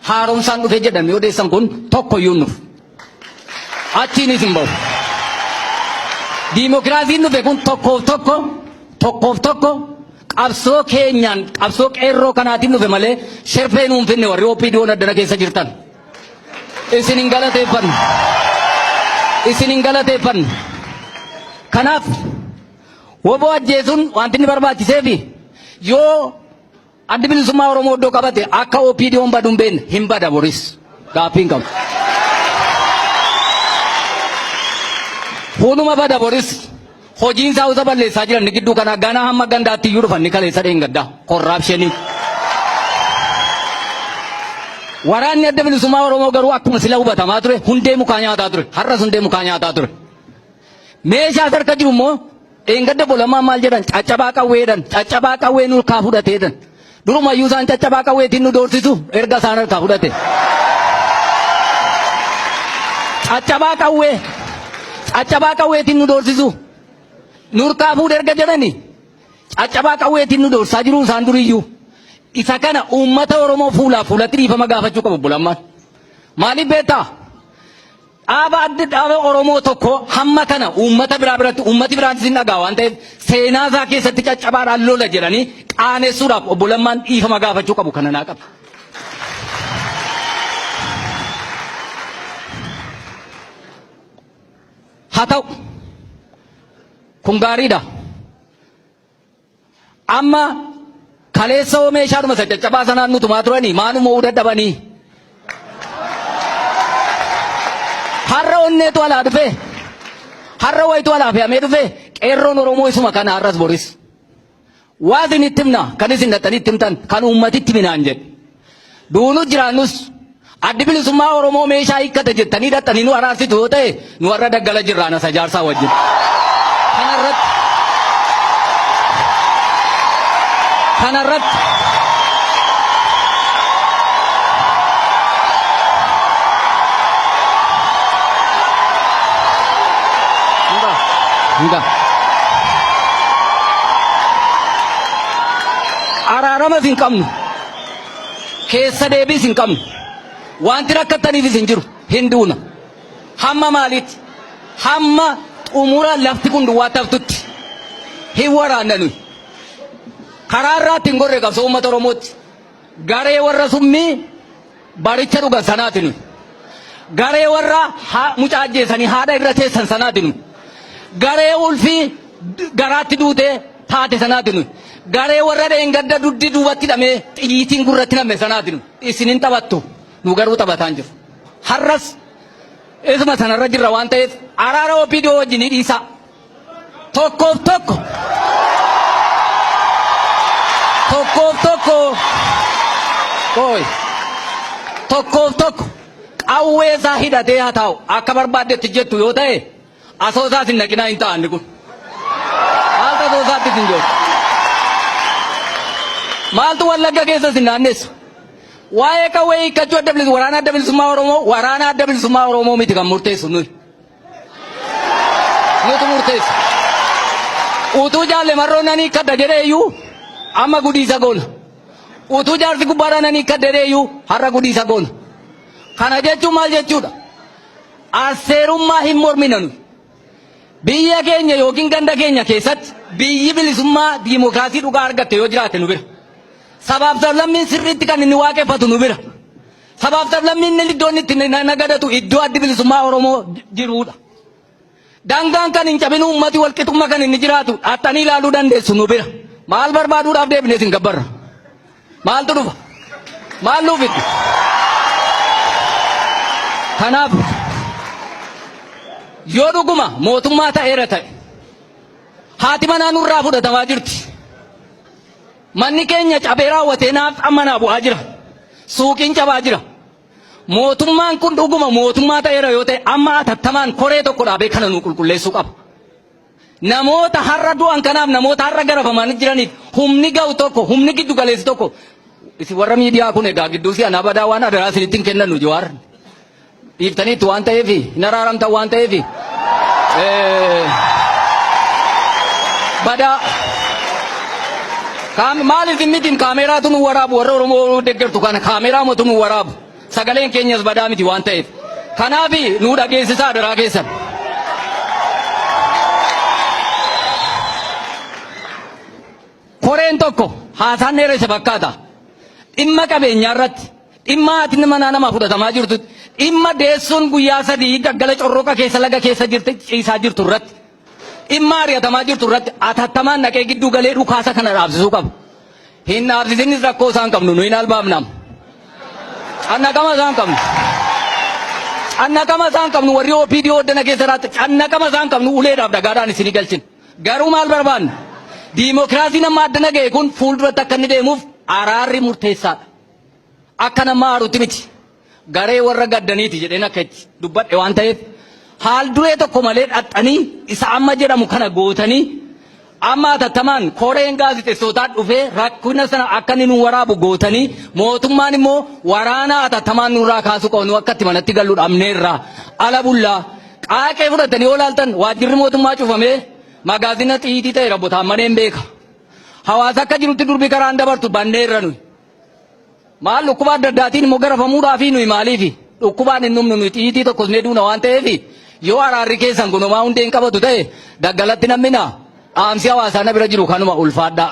haaromsaan dhufe jedhame odeessan kun tokko iyyuu nuuf achiinis hin bahu. Diimokiraasiin dhufe kun tokkoof tokko tokkoof tokko qabsoo keenyaan qabsoo qeerroo kanaatiin dhufe malee sherfee nuun finne warri OPDO'n addana keessa jirtan. Isin hin galateeffannu. Isin hin galateeffannu. Kanaaf woboo ajjeesuun wanti inni barbaachiseefi yoo Addi bilisummaa Oromoo iddoo qabate akka OPDOn badu hin beekne hin bada boris. Gaaffii hin qabu. Hunuma bada boris. Hojiin isaa usa balleessaa jiran ni gidduu kana ganaa hamma gandaatti iyyuu dhufan ni kaleessa dheengaddaa. Korraapshinii. Waraanni adda bilisummaa Oromoo garuu akkuma sila hubatamaa ture hundee mukaa nyaataa ture. Har'as hundee mukaa nyaataa ture. Meeshaa harka jiru immoo Dheengadda bolamaan maal jedhan caccabaa qawweedhan caccabaa qawwee nurkaa fudhateedhan durumayyuu isaan caccabaa qawweetiin nu doorsisu erga isaan harkaa fudhate. Caccabaa qawwee caccabaa qawweetiin nu doorsisu nurkaa fuudhe erga jedhani caccabaa qawweetiin nu doorsaa jiru isaan duriyyuu isa kana uummata Oromoo fuulaaf fuulatti dhiifama gaafachuu qabu bolamaan. Maaliif beektaa? Dhaaba adda dhaaba Oromoo tokko hamma kana uummata biraa biratti uummati biraan isin dhagaa waan ta'eef seenaa isaa keessatti caccabaadhaan lola jedhanii qaanessuudhaaf obbo Lammaan dhiifama gaafachuu qabu kana naa qabu. Haa ta'u kun gaariidha. Amma kaleessa hoo meeshaadhuma isa caccabaa sanaan nu tumaa turanii maa nu mo'uu dadhabanii? Har'a onneetu alaa dhufee har'a wayitu alaa fe'amee dhufee qeerroon Oromoo isuma kana har'as boris. Waa isin itti himna kan isin dhaxxanii itti himtan kan uummatitti minaan jedhe. Duunus jiraannus addi bilisummaa Oromoo meeshaa hiikkate jettanii dhaxxanii nu araarsitu yoo ta'e nu warra daggala jirraan asa jaarsaa wajjin. Kanarratti kanarratti Hunda. Araaramas hin qabnu. Keessa deebiis hin qabnu. Wanti rakkattaniifis hin jiru. Hin duuna. Hamma maaliitti? Hamma xumura lafti kun duwwaatti haftutti. Hin waraanna nuyi. Karaa irraatti hin gorre qabsoo uummata Oromootti. Garee warra summii Baricha dhugan sanaatinu. Garee warra mucaa ajjeesanii haadha irra teessan sanaatinu. Garee ulfii garaatti duute taate sanaatinu. Garee warra dheengadda duddi duubatti hidhamee xiyyiitiin gurratti namme sanaatinu. Isin hin taphattu. Nu garuu taphataan jiru. Har'as isuma sanarra jirra waan ta'eef araara OPDO wajjin ni dhiisaa. Tokkoof tokko Tokkoof tokko Ooy Tokkoof tokko qawwee isaa hidhatee haa taa'u akka barbaaddetti jettu yoo ta'e asoosaas hin naqinaa hin ta'anni kun haalta asoosaattis hin joortu maaltu wallagga keessas hin naannessu waa'ee qawwee hiikkachuu adda bilisummaa waraanaa adda bilisummaa oromoo waraanaa adda bilisummaa oromoo miti kan murteessu nuyi. nutu murteessa. Utuu jaalle marroo nan hiikkadha jedheeyyuu amma gudiisa goona. Utuu jaarsi gubbaadha nan hiikkadha jedheeyyuu har'a gudiisa goona. Kana jechuun maal jechuudha? Asseerummaa hin mormina nuyi. Biyya keenya yookiin ganda keenya keessatti biyyi bilisummaa diimokiraasii dhugaa argatte yoo jiraate nu bira. Sabaaf sablammiin sirriitti kan inni waaqeffatu nu bira. Sabaaf sablammiin inni iddoo inni itti na- nagadatu iddoo addi bilisummaa Oromoo j- jiruudha. Daangaan kan hin cabin uummati walqixummaa kan inni jiraatu dhaaxxanii ilaaluu dandeessu nu bira. Maal barbaaduudhaaf deebinee isin gabbarra? Maaltu dhufa? Maal nuuf itti? Kanaaf yoo dhuguma mootummaa ta'eera ta'e haati manaa nurraa fudhatamaa jirti. Manni keenya cabee raawwatee naafxaan manaa bu'aa jira. Suuqiin cabaa jira. Mootummaan kun dhuguma mootummaa ta'eera yoo ta'e amma atattamaan koree tokko dhaabee kana nuu qulqulleessuu qaba. Namoota har'a du'an kanaaf namoota har'a garafamanii jiraniif humni ga'u tokko humni giddu galeessi tokko isin warra miidiyaa kun egaa gidduu si anaa badaa waan adaraa isinitti hin kennannu Jawaar. Dhiiftaniittu waan ta'eef hin araaramtan waan ta'eef badaa maaliif miti kaameeraatu nu waraabu warra Oromoo deeggartu kana kaameeraa mootu nu waraabu sagaleen keenyas badaa miti waan ta'eef kanaaf nu dhageessisaa daraa keessan. Koreen tokko haasaan dheeressa fakkaata dhimma qabeenyaa irratti. Dhimma haatni manaa namaa fudhatamaa jirtutti, dhimma deessuun guyyaa sadii gaggala corroqa keessa laga keessa jirte ciisaa jirtu irratti, dhimma ari'atamaa jirtu irratti atattamaan naqee gidduu galee dhukaasa kana dhaabsisuu qaba. Hin dhaabsisinis rakkoo isaan qabnu nu hin albaafnaam. Cannaqama isaan qabnu. Cannaqama isaan qabnu warri OPD oddana keessa irratti cannaqama isaan qabnu uleedhaaf dhagaadhaan isinii galchina. Garuu maal barbaanna? Diimokiraasiin amma addana ga'e kun fuulduratti akka inni deemuuf araarri murteessaadha. Akka nama aarutti miti. Garee warra gaddaniiti jedheen akka itti dubbadhe waan ta'eef haal duree tokko malee dhaxxanii isa amma jedhamu kana gootanii amma atattamaan koreen gaazexessootaa dhufee rakkina sana akka inni nu waraabu gootanii mootummaan immoo waraana atattamaan nurraa kaasuu qabnu akka itti manatti gallu dhabneerra ala bullaa qaaqee fudhatanii yoo laaltan waajjirri mootummaa cufamee magaazina xiyiitii ta'e rabbotaan maneen beeka. Hawaasa akka jirutti durbii karaan dabartu banneerra nuyi. Maal dhukkuba adda addaatiin immoo garafamuudhaa fi nuyi maaliifi? Dhukkubaan hin dhumnu nuyi xiyyitii tokkos ni duuna waan ta'eef yoo araarri keessan kun homaa hundee hin qabatu ta'e daggalatti nam'ina dhaamsi hawaasaa na bira jiru kanuma ulfaadhaa.